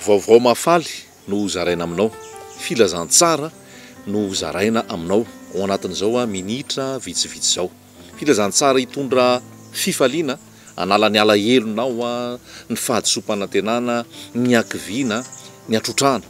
Vaovao mahafaly no ho zaraina aminao, filazantsara no ho zaraina aminao ao anatin'izao minitra vitsivitsy izao. Filazantsara hitondra fifaliana, hanala ny alahelonao, ny fahadisoam-panantenana, ny hakiviana, ny hatrotrahana.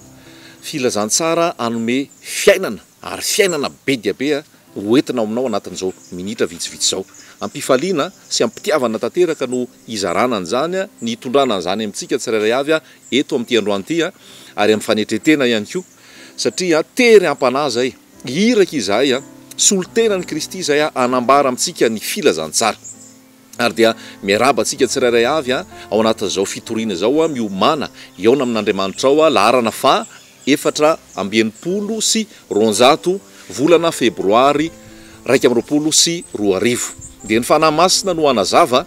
Filazantsara hanome fiainana ary fiainana be dia be ho entina ao aminao anatin'izao minitra vitsivitsy izao. Am-pifaliana sy am-pitiavana tanteraka no hizarana an'izany, ny hitondrana an'izany amintsika tsirairay avy eto amin'ity androany ity ary amin'ny fanetren-tena ihany koa. Satria tery am-panahy izay, iraka izahay, solontenan'i Kristy izay hanambara amintsika ny filazantsara. Ary dia miarahaba antsika tsirairay avy ao anatin'izao fitoriana izao, miomàna hihaona amin'Andriamanitra ao, laharana faha efatra amby enimpolo sy roanjato, volana febroary iraika amby roapolo sy roa arivo. Dia ny Fanahy Masina no hanazava.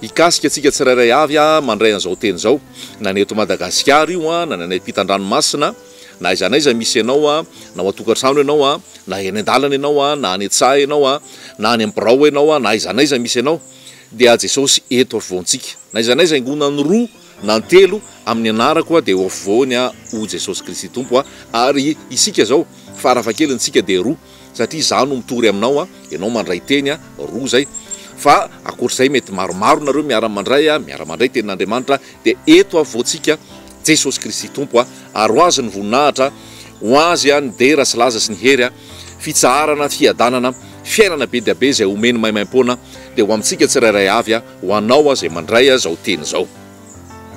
Hikasika antsika tsirairay avy aho mandray an'izao teny izao, na ny eto Madagasikara io, na ny any am-pitan-dranomasina, na aiza n'aiza misy ianao, na ao an-tokantrano ianao, na eny an-dalana ianao, na any an-tsaha ianao, na any amin'ny birao ianao, na aiza n'aiza misy ianao, dia Jesosy eto afovoantsika. Na aiza n'aiza haingona ny roa na ny telo amin'ny anarako dia eo afovoany aho, hoy Jesosy Kristy Tompo, ary isika izao, fara fahakeliny, isika dia roa. satria za no mitory aminao a, ianao mandray teny a, roa zay, fa akoatr'izay mety maromaro nareo miara-mandray a, miara-mandray tenin'Andriamanitra, dia eto afovoantsika Jesosy Kristy Tompo a, ary ho Azy ny voninahitra, ho Azy a ny dera sy laza sy ny hery a, fitsaharana, fiadanana, fiainana be dia be izay omeny maimaim-poana, dia ho amintsika tsirairay avy a, ho anao a izay mandray a zao teny zao.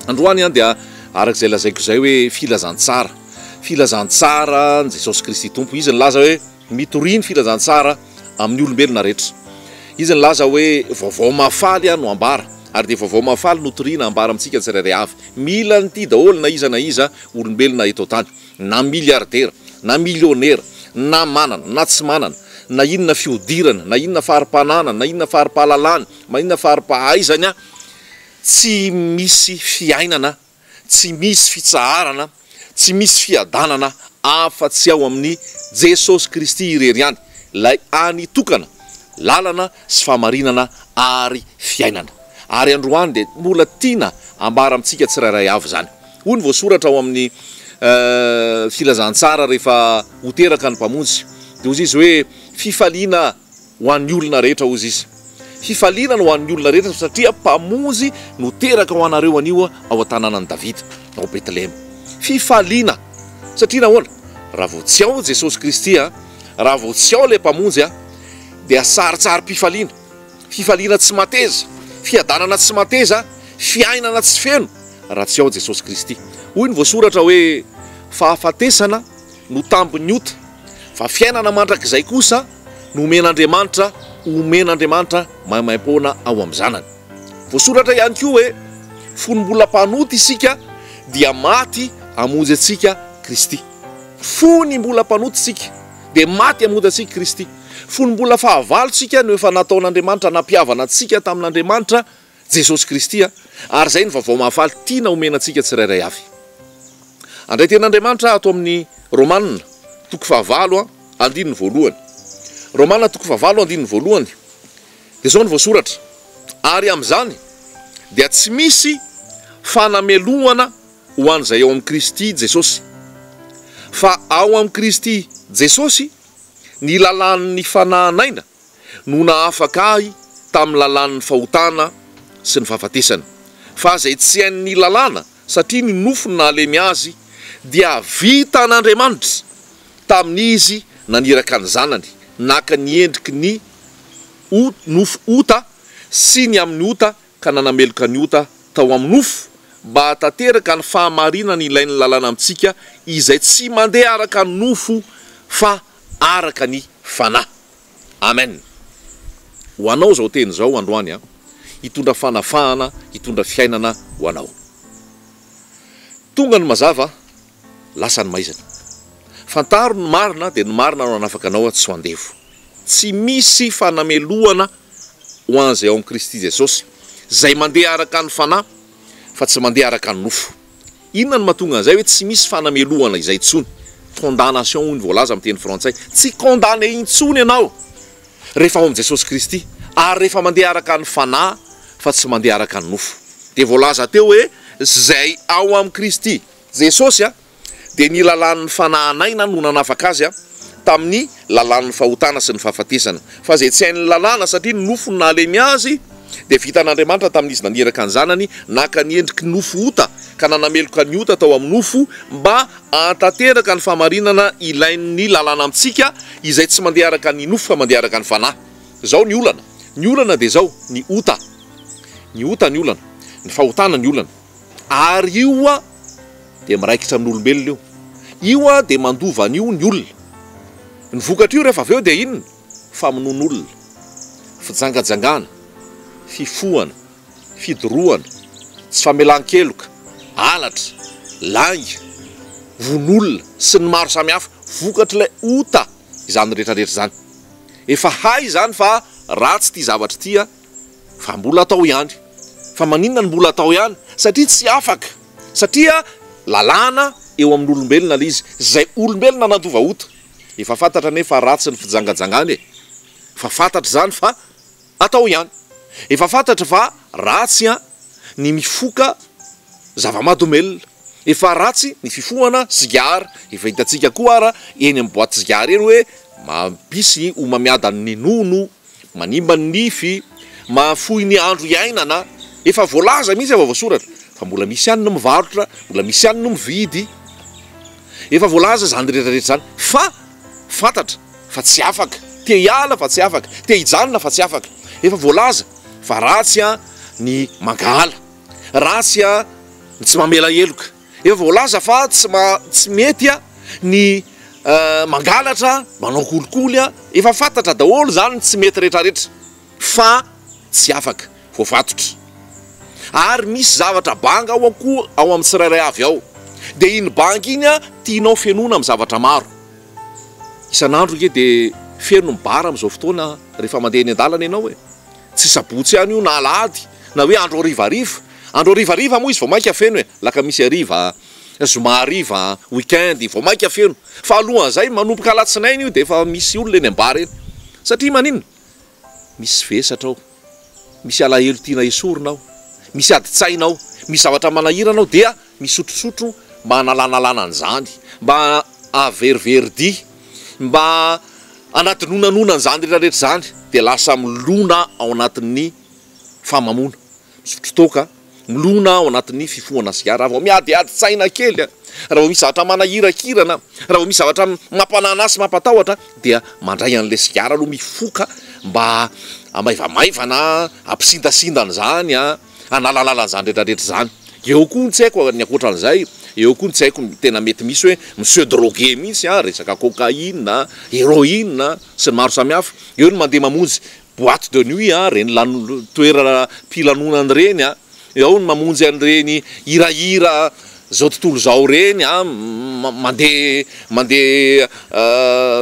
Androany a dia arak'izay lazaiko izay hoe filazantsara. Filazantsara ny Jesosy Kristy Tompo. Izy nilaza hoe, Mitoria ny filazantsara amin'ny olombelona rehetra. Izy nilaza hoe, Vaovao mahafaly aho no ambara, ary dia vaovao mahafaly notorina ambara amintsika tsirairay avy. Mila an'ity daholo na iza na iza olombelona eto an-tany, na miliaridera, na milionera, na manana, na tsy manana, na inona fihodirana, na inona fari-pananany, na inona fari-pahalalany, na inona fari-pahaizany, tsy misy fiainana Tsy misy fitsaharana, tsy misy fiadanana afa tsy ao amin'i Jesosy Kristy irery ihany, ilay Any tokana, lalana sy fahamarinana ary fiainana. Ary androany dia mbola tiana ambara amintsika tsirairay avy izany. Hoy ny voasoratra ao amin'ny Filazantsara rehefa ho teraka ny Mpamonjy, dia hoy izy hoe, Fifaliana Ho an'ny olona rehetra, hozy izy. Hifaliana ny ho an'ny olona rehetra, satria Mpamonjy no teraka ho anareo anio ao an-tanànan'i Davida, ao Betlehema. Fifaliana! Satria nahoana? Raha vao tsy ao Jesosy Kristy, raha vao tsy ao ilay Mpamonjy, dia sarintsarim-pifaliana, fifaliana tsy mateza, fiadanana tsy mateza, fiainana tsy feno, raha tsy ao Jesosy Kristy. Hoy ny voasoratra hoe, Fahafatesana no tambin'ny ota, fa fiainana mandrakizay kosa. nomen'Andriamanitra homen'Andriamanitra maimaim-poana ao amin'ny Zanany. Voasoratra ihany koa hoe, Fony mbola mpanota isika, dia maty hamonjy antsika Kristy. Fony mbola mpanota isika, dia maty hamonjy antsika Kristy. Fony mbola fahavalo isika no efa nataon'Andriamanitra nampihavana antsika tamin'Andriamanitra. Jesosy Kristy a! Ary izay no Vaovao Mahafaly tiana omena antsika tsirairay avy. Handray tena Andriamanitra ato amin'ny Romana toko fahavalo andininy voalohany. Romana toko fahavalo andininy voalohany dia izao no voasoratra, Ary amin'izany dia tsy misy fanamelohana ho an'izay ao amin'i Kristy Jesosy, fa ao amin'i Kristy Jesosy ny lalàn'ny fanahanaina no nahafaka ahy tamin'ny lalàn'ny fahotana sy ny fahafatesana, fa izay tsy hain'ny lalàna, satria ny nofo no nahalemy azy, dia vitan'Andriamanitra tamin'izy naniraka ny Zanany, naka ny endriky ny nofo ota sy ny amin'ny ota ka nanameloka ny ota tao amin'ny nofo, mba hahatanteraka ny fahamarinana ilain'ny lalàna amintsika izay tsy mandeha araka ny nofo fa araka ny Fanahy. Amen. Ho anao izao teny izao androany an, hitondra fanavahana, hitondra fiainana ho anao. Tonga ny mazava, lasa ny maizina. Fantaro ny marina dia ny marina no hanafaka anao tsy ho andevo. Tsy misy fanamelohana ho an'izay ao amin'i Kristy Jesosy, izay mandeha araka ny Fanahy fa tsy mandeha araka ny nofo. Inona no mahatonga an'izay hoe tsy misy fanamelohana izay intsony? Condamnation hoy ny voalaza amin'ny teny frantsay. Tsy condamné intsony ianao rehefa ao amin'i Jesosy Kristy ary rehefa mandeha araka ny Fanahy fa tsy mandeha araka ny nofo. Dia voalaza teo hoe izay ao amin'i Kristy Jesosy dia ny lalàn'ny Fanahy naina no nanafaka azy tamin'ny lalàn'ny fahotana sy ny fahafatesana, fa izay tsy hain'ny lalàna, satria ny nofo no nahalemy azy, dia vitan'Andriamanitra tamin'izy naniraka ny Zanany naka ny endriky nofo ota, ka nanameloka ny ota tao amin'ny nofo, mba hahatanteraka ny fahamarinana ilain'ny lalàna amintsika, izay tsy mandeha araka ny nofo fa mandeha araka ny fanahy. Izao ny olana, ny olana dia izao, ny ota, ny ota ny olana, ny fahotana ny olana. Ary io a dia miraikitra amin'ny olombelona io. Io a dia mandova an'io ny olona. Ny vokatr'io rehefa avy eo dia inona? Famonoan'olona, fijangajangana, fifohana, fidorohana, tsy famelan-keloka, halatra, lainga, vono-olona sy ny maro samihafa. Vokatr'ilay ota izany rehetra rehetra izany. Efa hay izany fa ratsy ity zavatra ity a. Fa mbola atao ihany. Fa maninona no mbola atao ihany? Satria tsy afaka. Satria lalàna eo amin'olombelona ilay izy. Izay olombelona nandoa ota. Efa fantatra anie fa ratsy ny fijangajangana e. Efa fantatra izany fa atao ihany. Efa fantatra fa ratsy ny mifoka zava-mahadomelina. Efa ratsy ny fifohana sigara. Efa hitantsika koa ara eny amin'ny boaty sigara eny hoe mampisy homamiadan'ny nono Manimba ny nify, mahafoy ny andro iainana, efa voalaza mihitsy efa voasoratra fa mbola misy ihany ny mivarotra, mbola misy ihany ny mividy, efa voalaza izany rehetra rehetra izany fa fantatra fa tsy afaka, te hiala fa tsy afaka, te hijanona fa tsy afaka, efa voalaza fa ratsy ny mankahala, ratsy ny tsy mamela heloka. Efa voalaza fa tsy maha tsy mety ny mangalatra, manao kolikoly, efa fantatra daholo izany ny tsy mety rehetra rehetra fa tsy afaka, voafatotra. Ary misy zavatra banga ao koa ao amin'ny tsirairay avy ao, dia iny banga iny tianao fenoina amin'ny zavatra maro. Isan'andro ange dia feno ny bar amin'izao fotoana rehefa mandeha eny an-dalana ianao e! Tsy sabotsy ihany io na alahady na hoe andro harivariva. Andro harivariva moa izy vao mainka feno e! Alakamisy hariva, zoma hariva, week-end, vao mainka feno. Fa alohan'izay, manomboka alatsinainy io dia efa misy olona eny am-bar eny. Satria maninona? Misy vesatra ao, misy alahelo tiana esorina ao, misy adin-tsaina ao, misy zavatra manahirana ao dia misotrosotro mba hanalalanalana an'izany, mba hahaveriveri-dia, mba hanadinoananoana an'izany rehetrarehetra izany, dia lasa milona ao anatin'ny fahamamoana, misotro toaka, milona ao anatin'ny fifohana sigara, raha vao miadiadin-tsaina kely, raha vao misy zavatra manahirakirana, raha vao misy zavatra mampanana azy sy mampatahotra dia mandray an'ilay sigara aloha mifoka mba hamaivamaivana, hampisindasinda an'izany an! hanalalala izany rehetra rehetra izany. Eo koa ny tsy haiko ny ankoatran'izay, eo koa ny tsy haiko ny tena mety misy hoe mi-se droguer mihitsy an, resaka cocaïne a, héroïne a, sy ny maro samihafa. Eo ny mandeha mamonjy boîte de nuit an, ireny lan- toeram-pilanonana ireny an, ao ny mamonjy an'ireny hirahira izao tontolo izao ireny an, mandeha mandeha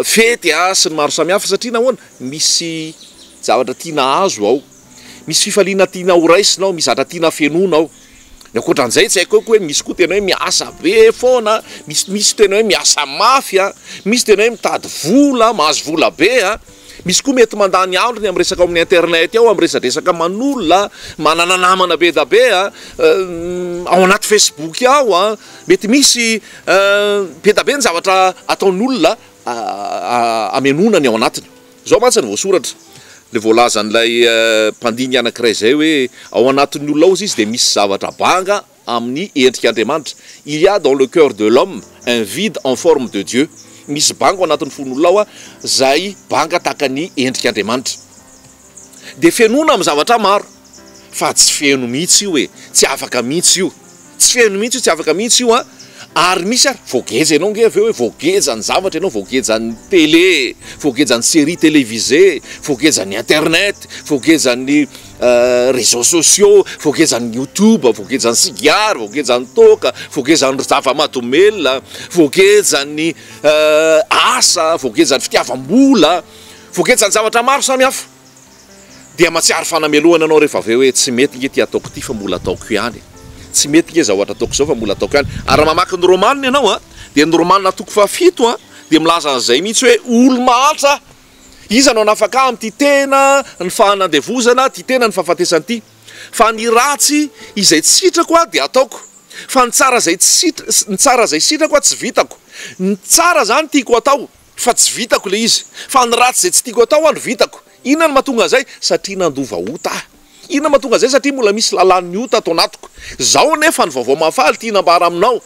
fety an, sy ny maro samihafa satria nahoana? Misy zavatra tiana hahazo ao. Misy fifaliana tiana ho raisina ao, misy zatra tiana hafenoina ao. Ny ankoatran'izay tsy haiko hoe misy koa tena hoe miasa be foana, misy misy tena hoe miasa mafy a, misy tena hoe mitady vola, mahazo vola be a, misy koa mety mandany androny amin'ny resaka ao amin'ny internet ao, amin'ny resadresaka aman'olona, manana namana be da be a, ao anaty facebook ao a, mety misy be da be ny zavatra ataon'olona hamenoana ny ao anatiny. Izao mantsy no voasoratra, dia voalazan'ilay mpandinika anankiray izay hoe, Ao anatin'ny olona ao izy dia misy zavatra banga amin'ny endrik'Andriamanitra, Il y a dans le cœur de l'homme un vide en forme de Dieu, misy banga ao anatin'ny fon'olona ao izay banga tahaka ny endrik'Andriamanitra. Dia fenoina amin'ny zavatra maro. fa tsy feno mihitsy io e, tsy afaka mihitsy io, tsy feno mihitsy io, tsy afaka mihitsy io an, ary misy ary voageja ianao nge avy eo hoe voageja ny zavatra ianao, voageja ny tele, voageja ny serie televisé, voageja ny internet, voageja ny réseaux sociaux, voageja ny youtube, voageja ny sigara, voageja ny toaka, voageja ny zava-mahadomelina, voageja ny asa, voageja ny fitiavam-bola, voageja ny zavatra maro samihafa. dia mahatsiaro fanamelohana ianao rehefa avy eo hoe tsy mety nge ity ataoko ity fa mbola ataoko ihany, tsy mety nge zaohatra ataoko zao fa mbola ataoko ihany, ary raha mamaky ny romanina ianao a, dia ny romanina toko fahafito a, dia milaza an'izay mihitsy hoe olo-mahantra aho, iza no hanafaka ahy amin'ity tena ny fahanandevozana ity tena ny fahafatesana ity, fa ny ratsy izay tsy sitrako a dia ataoko, fa ny tsara izay tsy sitr ny tsara izay sitrako a tsy vitako, ny tsara zany tiako atao. Fa tsy vitako ilay izy. Fa ny ratsy izay tsy tiako atao aho no vitako. Inona no mahatonga an'izay? Satria nandova ota aho. Inona no mahatonga an'izay? Satria mbola misy lalàn'ny ota ato anatiko. Izao anefa ny vaovao mahafaly tiana ambara aminao.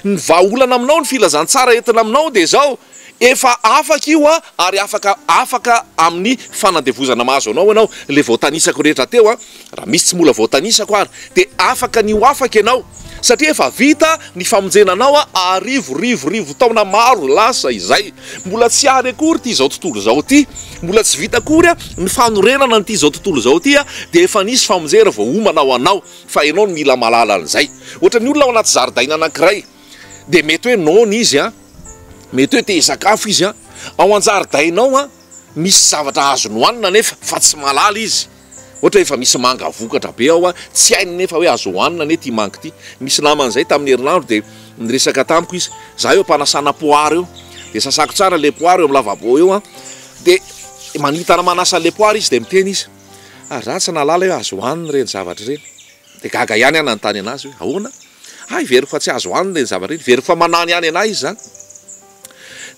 Ny vahaolana aminao, ny filazantsara entina aminao dia izao, Efa afaka io an, ary afaka afaka amin'ny fanandevozana mahazo anao ianao. Ilay voatanisako rehetra teo an, Raha misy tsy mbola voatanisako ary dia afaka ny ho afaka ianao satria efa vita ny famonjena anao arivo rivo rivo taona maro lasa izay. Mbola tsy ary akory ity izao tontolo izao ity, mbola tsy vita akory ny fanorenana an'ity izao tontolo izao ity dia efa nisy famonjera voaomana ho anao fa ianao no mila mahalala an'izay. Ohatra ny olona ao anaty zaridaina anankiray dia mety hoe noana izy an, mety hoe te hisakafo izy an, ao an-jaridainao an misy zavatra azony hohanina nefa fa tsy mahalala izy. Ohatra efa misy manga vokatra be ao a, tsy hainy nefa hoe azo hohanina anie ity manga ity. Nisy namana izay tamin'ny herinandro dia niresaka tamiko izy, za eo am-panasana poara eo dia sasako tsara ilay poara eo amin'ny lavabo eo a, dia manitana manasa an'ilay poara izy dia miteny izy, ah za tsy nahalala hoe azo hohanina ireny zavatra ireny. Dia gaga ihany aho nanontany anazy hoe ahoana? ah heveriko fa tsy azo hohanina ireny zavatra ireny, heveriko fa manano ihany anah izy zany.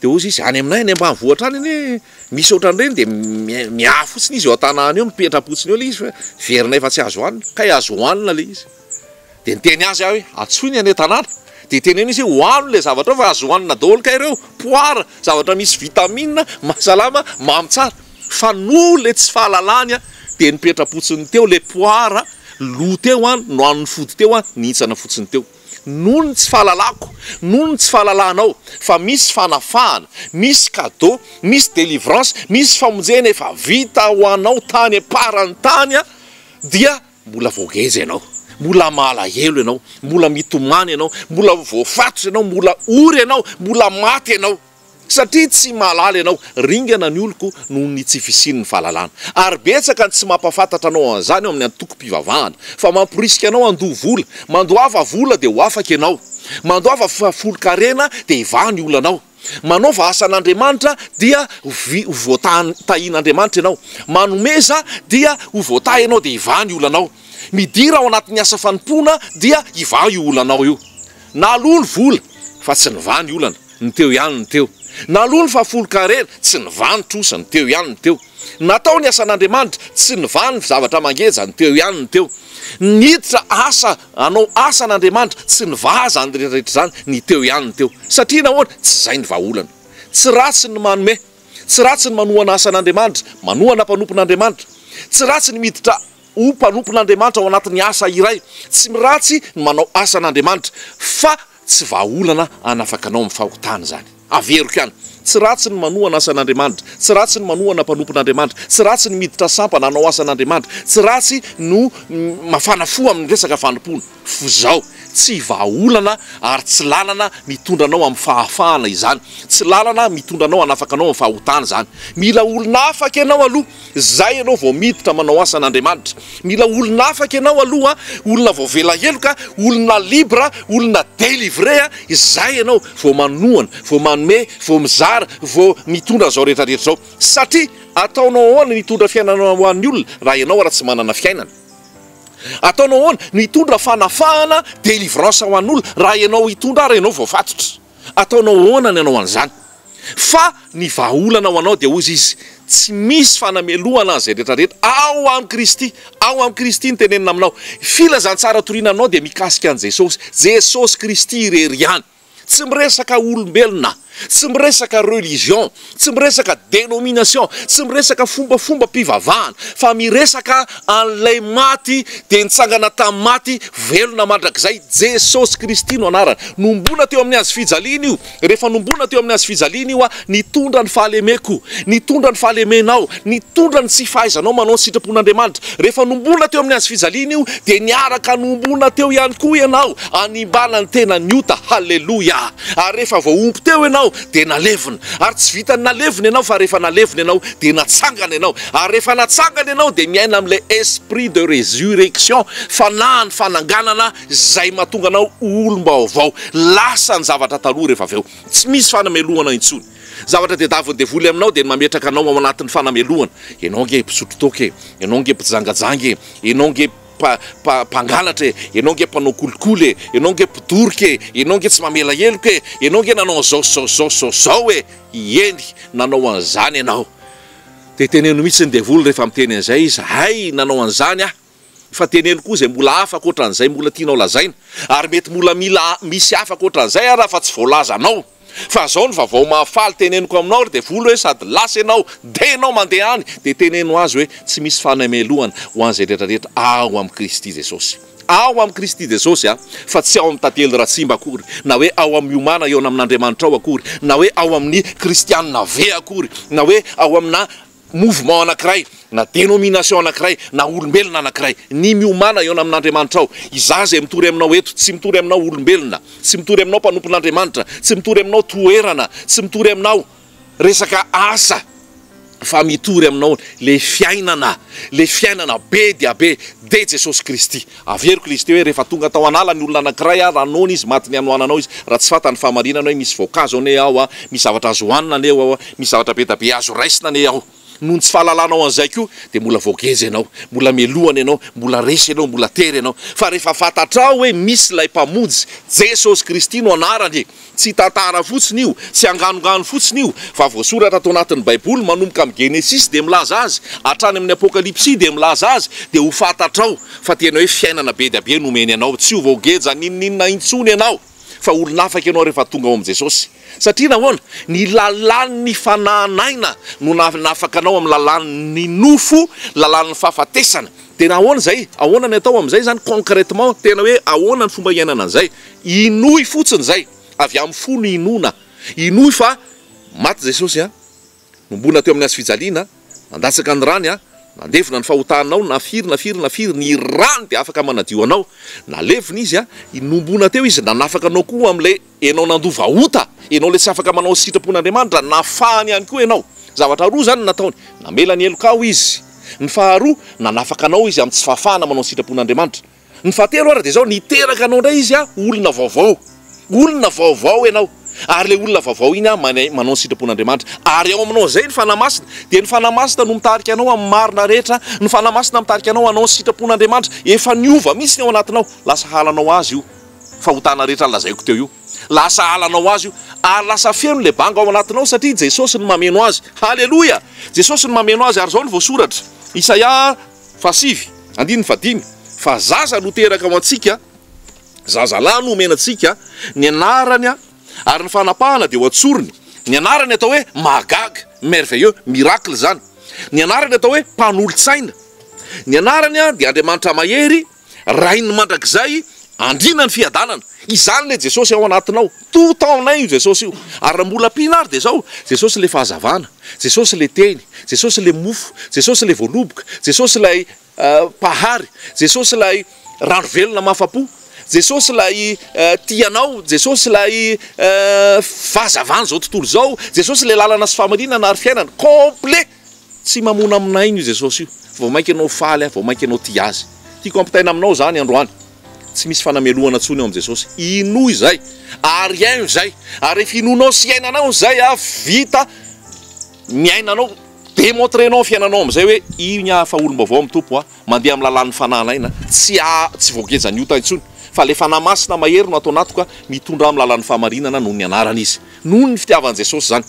Dia hoy izy, any aminay any ambanivohitra any anie Misaotra an'ireny dia miahy fotsiny izy eo an-tanàna eo, mipetra-potsiny eo ilay izy fa heverina efa tsy azo hohanina, kay azo hohanina ilay izy. Dia niteny azy aho hoe, antsoy ny any an-tanàna, dia teneno izy hoe hohano ilay zavatra ao fa azo hohanina daholo kay ireo, poara, zavatra misy vitamina, mahasalama, mamy tsara. Fa noho ilay tsy fahalalany an, dia nipetra-potsiny teo ilay poara, lo teo an, nohanin'ny fody teo an, nihintsana fotsiny teo. noho ny tsy fahalalako, noho ny tsy fahalalanao fa misy fanafahana, misy cadeau, misy délivrance, misy famonjena efa vita ho anao tany am-paran'ny tany dia mbola voageja ianao, mbola malahelo ianao, mbola mitomany ianao, mbola voafatotra ianao, mbola ory ianao, mbola maty ianao. Satria tsy mahalala ianao, ringana ny oloko noho ny tsy fisian'ny fahalalana. Ary betsaka ny tsy mampahafantatra anao an'izany ao amin'ny antokom-pivavahana, fa mamporisika anao handoa vola. Mandoava vola dia ho afaka ianao. Mandoava folon-karena dia hivaha ny olanao. Manaova asan'Andriamanitra dia ho voatahin'Andriamanitra ianao. Manomeza dia ho voatahy ianao dia hivaha ny olanao. Midira ao anatin'ny asa fanompoana dia hivaha io olanao io. Naloa ny vola fa tsy nivaha ny olana. Ny teo ihany ny teo. Naloa ny fahafolon-karena, tsy nivaha ny trosa, ny teo ihany ny teo. Natao ny asan'Andriamanitra, tsy nivaha ny zavatra mangeja, ny teo ihany ny teo. Niditra asa hanao asan'Andriamanitra, tsy nivaha izany rehetrarehetra izany, ny teo ihany ny teo. Satria nahoana? Tsy izay ny vahaolana. Tsy ratsy ny manome. Tsy ratsy ny manohana asan'Andriamanitra, manohana mpanompon'Andriamanitra. Tsy ratsy ny miditra ho mpanompon'Andriamanitra ao anatin'ny asa iray. Tsy ratsy ny manao asan'Andriamanitra. Fa Tsy vahaolana hanafaka anao amin'ny fahotana izany. Averiko ihany, tsy ratsy ny manohana asan'Andriamanitra, tsy ratsy ny manohana mpanompon'Andriamanitra, tsy ratsy ny miditra sampana hanao asan'Andriamanitra, tsy ratsy no mafana fo amin'ny resaka fanompoana. F'izao, tsy vahaolana ary tsy lalana mitondra anao amin'ny fahafahana izany, tsy lalana mitondra anao hanafaka anao amin'ny fahotana izany. Mila olona afaka ianao aloha Izay ianao vao miditra manao asan'Andriamanitra. Mila olona afaka ianao aloha, olona voavela heloka, olona libre, olona delivré, izay ianao vao manohana, vao manome, vao mizara, vao mitondra an'izao rehetra rehetra izao. Satria ataonao ahoana ny hitondra fiainana ho an'ny olona raha ianao ara tsy manana fiainana? Ataonao ahoana ny hitondra fanafahana, délivrance, ho an'olona raha ianao hitondra ary ianao voafatotra? Ataonao ahoana ny hanao an'izany? Fa ny vahaolana ho anao dia hozy izy, tsy misy fanamelohana an'izay rehetra rehetra ao amin'i Kristy, ao amin'i Kristy ny tenenina aminao. Filazantsara toriana aminao dia mikasika an'i Jesosy, Jesosy Kristy irery ihany. Tsy miresaka olombelona, tsy miresaka religion, Tsy miresaka denomination, tsy miresaka fombafombam-pivavahana, fa miresaka an'ilay maty dia nitsangana tamin'ny maty, velona mandrakizay, Jesosy Kristy no anarany. Nombona teo amin'ny hazo fijaliana io, rehefa nombona teo amin'ny hazo fijaliana io aho, nitondra ny fahalemeko, nitondra ny fahalemenao, nitondra ny tsy fahaizanao manao ny sitrapon'Andriamanitra. Rehefa nombona teo amin'ny hazo fijaliana io, dia niaraka nombona teo ihany koa ianao, hanimbana ny tenan'ny ota. Haleloia! Ary rehefa voaompo teo ianao, dia nalevina. Ary tsy vitan'ny nalevina ianao fa rehefa nalevina ianao dia natsangana ianao. Ary rehefa natsangana ianao dia miaina amin'ilay esprit de résurrection, fanahin'ny fananganana izay mahatonga anao ho olom-baovao. Lasa ny zavatra taloha rehefa avy eo. Tsy misy fanamelohana intsony. Ny zavatra tadiavin'ny devoly aminao dia ny mametraka anao ao anatin'ny fanamelohana. Ianao ange mpisotro toaka e! Ianao ange mpijangajanga e! Ianao ange. mpangalatra e, ianao ange mpanao kolikoly e, ianao ange mpidoroka e, ianao ange tsy mamela heloka e, ianao ange nanao an'izao sy izao sy izao sy izao e, ieny nanao an'izany ianao. Dia teneno mihitsy ny devoly rehefa miteny an'izay izy, hay nanao an'izany aho. Fa teneno koa izay mbola hafa ankoatra an'izay mbola tianao lazaina. Ary mety mbola mila misy hafa ankoatra an'izay ary aho fa tsy voalazanao. Fa zao ny vavao mahafaly teneniko aminao ary devoly hoe sady lasa ianao dia ianao mandeha any dia teneno azy hoe tsy misy fanamelohana ho an'izay rehetra rehetra ao amin'i Kristy Jesosy ao amin'i Kristy Jesosy a fa tsy ao amin'ny tantely Ratsimba akory na hoe ao amin'ny miomàna eo amin'Andriamanitra ao akory na hoe ao amin'ny kristianina ve akory na hoe ao amina mouvement anankiray, na dénomination anankiray, na olombelona anankiray. Ny miomàna eo amin'Andriamanitrao. Izaho izay mitory aminao eto, tsy mitory aminao olombelona, tsy mitory aminao mpanompon'Andriamanitra, tsy mitory aminao toerana, tsy mitory aminao resaka asa, fa mitory aminao ilay fiainana, ilay fiainana be dia be, dia Jesosy Kristy. Averiko ilay izy teo hoe rehefa tonga tao an'ala ny olona anankiray a, raha noana izy maty ny hanoananao izy, raha tsy fantany ny fahamarinana hoe misy voankazo anie ao a, misy zavatra azo hohanina anie ao a, misy zavatra be da be azo raisina anie ao. Noho ny tsy fahalalanao an'izay koa dia mbola voageja ianao, mbola melohana ianao, mbola resy ianao, mbola tery ianao. Fa rehefa fantatrao hoe misy ilay Mpamonjy, Jesosy Kristy no anarany e! Tsy tantara fotsiny io, tsy anganongano fotsiny io, fa voasoratra ato anatin'ny baiboly, manomboka amin'ny genesisy dia milaza azy, hatrany amin'ny apokalypsy dia milaza azy, dia ho fantatrao fa tena hoe fiainana be dia be no omeny anao, tsy ho voageja n'inon'inona intsony ianao, fa olon'afaka ianao rehefa tonga ao amin'i Jesosy. Satria nahoana? Ny lalàn'ny fanahy naina no nanafaka anao amin'ny lalàn'ny nofo, lalàn'ny fahafatesana. Dia ahoana izay? Ahoana ny atao amin'izay izany concrètement? Tena hoe ahoana ny fomba hiainana an'izay? Inoy fotsiny izay, avy amin'ny fo ny inoana. Inoy fa maty Jesosy, nombona teo amin'ny hazofijaliana, nandatsaka ny rany, nandevona ny fahotanao, na firy na firy na firy, ny rany dia afaka manadio anao. Nalevina Izy, nombona teo Izy, nanafaka anao koa amin'ilay ianao nandova ota, ianao ilay tsy afaka manao ny sitrapon'Andriamanitra, nafahany ihany koa ianao. Zavatra roa izany no nataony, namela ny helokao Izy, ny faharoa, nanafaka anao Izy amin'ny tsy fahafahana manao ny sitrapon'Andriamanitra. Ny fahatelo ary dia izao, niteraka anao indray izy ah, olona vaovao. Olona vaovao ianao. Ary ilay olona vaovao iny ah, manay, manao ny sitrapon'Andriamanitra. Ary ao aminao izay ny Fanahy Masina. Dia ny Fanahy Masina no mitarika anao amin'ny marina rehetra. Ny Fanahy Masina mitarika anao hanao ny sitrapon'Andriamanitra. Efa niova mihitsy ny ao anatinao. Lasa halanao Azy io fahotana rehetra nolazaiko teo io. Lasa halanao Azy io. Ary lasa feno ilay banga ao anatinao satria Jesosy no mameno azy. Haleloia! Jesosy no mameno azy. Ary izao no voasoratra. Isaia. Fahasivy, andininy fahadimy, Fa zaza no teraka ho antsika, zazalahy no omena antsika, ny anarany ary ny fanapahana dia ho antsorony, ny anarany atao hoe mahagaga, merveilleux, miracle, izany, ny anarany atao hoe mpanolo-tsaina, ny anarany dia Andriamanitra mahery, Rain'ny mandrakizay andriana ny fiadanana. Izany ilay Jesosy ao anatinao. Tout en un io Jesosy io. Ary raha mbola ampiana ary dia izao, Jesosy ilay fahazavana, Jesosy ilay teny, Jesosy ilay mofo, Jesosy ilay voaloboka, Jesosy ilay Mpahary, Jesosy ilay rano velona mahafa-po, Jesosy ilay tia anao, Jesosy ilay fahazavan'izao tontolo izao, Jesosy ilay lalana sy fahamarinana ary fiainana. Complet! Tsy mamona aminay io Jesosy io, fa vao mainka ianao faly aho, vao mainka ianao tia Azy. Tiako hampitaina aminao izany androany. Tsy misy fanamelohana intsony ao amin'i Jesosy. Inoa izay, ary haino izay. Ary rehefa inoanao sy iainanao izay, ah, vita, miaina anao, demontrenao ny fiainanao amin'izay hoe, Io ny ahy efa olom-baovao amin'ny Tompo, ah, mandeha amin'ny lalàn'ny Fanahy an'aina, tsy a, tsy voagejan'ny ota intsony, fa ilay Fanahy Masina mahery no ato anatiko, ah, mitondra ahy amin'ny lalàn'ny fahamarinana noho ny Anarany Izy. Noho ny fitiavan'i Jesosy izany.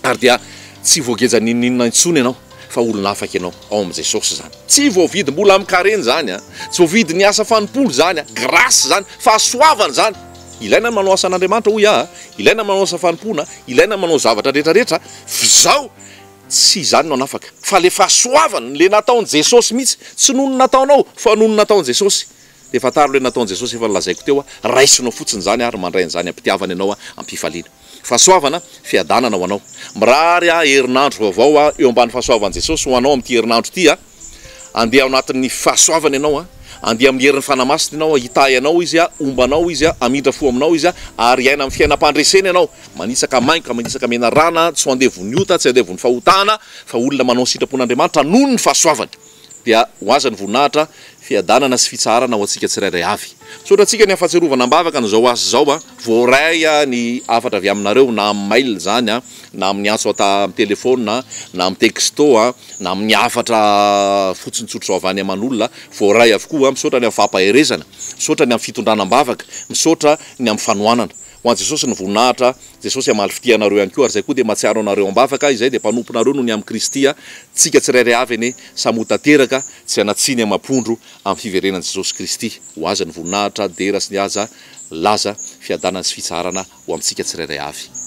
ary dia tsy voageja n'inon'inona intsony ianao fa olona afaka ianao ao amin'i Jesosy izany. Tsy voavidy mbola amin-karena izany an! Tsy voavidy ny asa fanompoana izany an! Grâce izany, fahasoavana izany! Ilaina ny manao asan'Andriamanitra hoy aho an! Ilaina ny manao asa fanompoana an! Ilaina ny manao ny zavatra rehetrarehetra an! F'izao tsy izany no hanafaka fa ilay fahasoavana, ilay nataon'i Jesosy mihitsy! Tsy noho ny nataonao fa noho ny nataon'i Jesosy! Dia fantaro ilay nataon'i Jesosy efa nolazaiko teo an! Raisinao fotsiny izany ary mandray an'izany am-pitiavana ianao an! Am-pifaliana. Fahasoavana, fiadanana ho anao. Mirary ahy herinandro vaovao aho eo ambany fahasoavan'i Jesosy ho anao amin'ity herinandro ity a! Andeha ao anatin'ny fahasoavany ianao a! Andeha amin'ny herin'ny Fanahy Masina ianao a! Hitahy anao Izy a! Homba anao Izy a! Hamindra fo aminao Izy a! Ary hiaina amin'ny fiainam-pandresena ianao, manitsaka mainka, manitsaka menarana, tsy ho andevon'ny ota, tsy andevon'ny fahotana, fa olona manao ny sitrapon'Andriamanitra noho ny fahasoavany. dia ho azy ny voninahitra, fiadanana sy fitsaharana ho antsika tsirairay avy. Misaotra antsika ny hafatsiarovana am-bavaka an'izao asa izao a! Voaray ny hafatra avy aminareo na amin'ny mail izany a, na amin'ny antso ata amin'ny telefaonina, na amin'ny texto a, na amin'ny hafatra fotsiny tsotr'izao avy any aman'olona, voaray avokoa. Misaotra ny amin'ny fampaherezana, misaotra ny amin'ny fitondrana am-bavaka, misaotra ny amin'ny fanohanana. Ho an'i Jesosy ny voninahitra, Jesosy hamaly fitia anareo ihany koa ary izay koa dia mahatsiaro anareo am-bavaka, izay dia mpanomponareo noho ny amin'i Kristy a! Tsika tsirairay avy anie samy ho tanteraka tsy hanatsiny amam-pondro amin'ny fiverenan'i Jesosy Kristy. Ho Azy ny voninahitra, dera sy ny haja, laza, fiadanana sy fitsaharana ho amintsika tsirairay avy.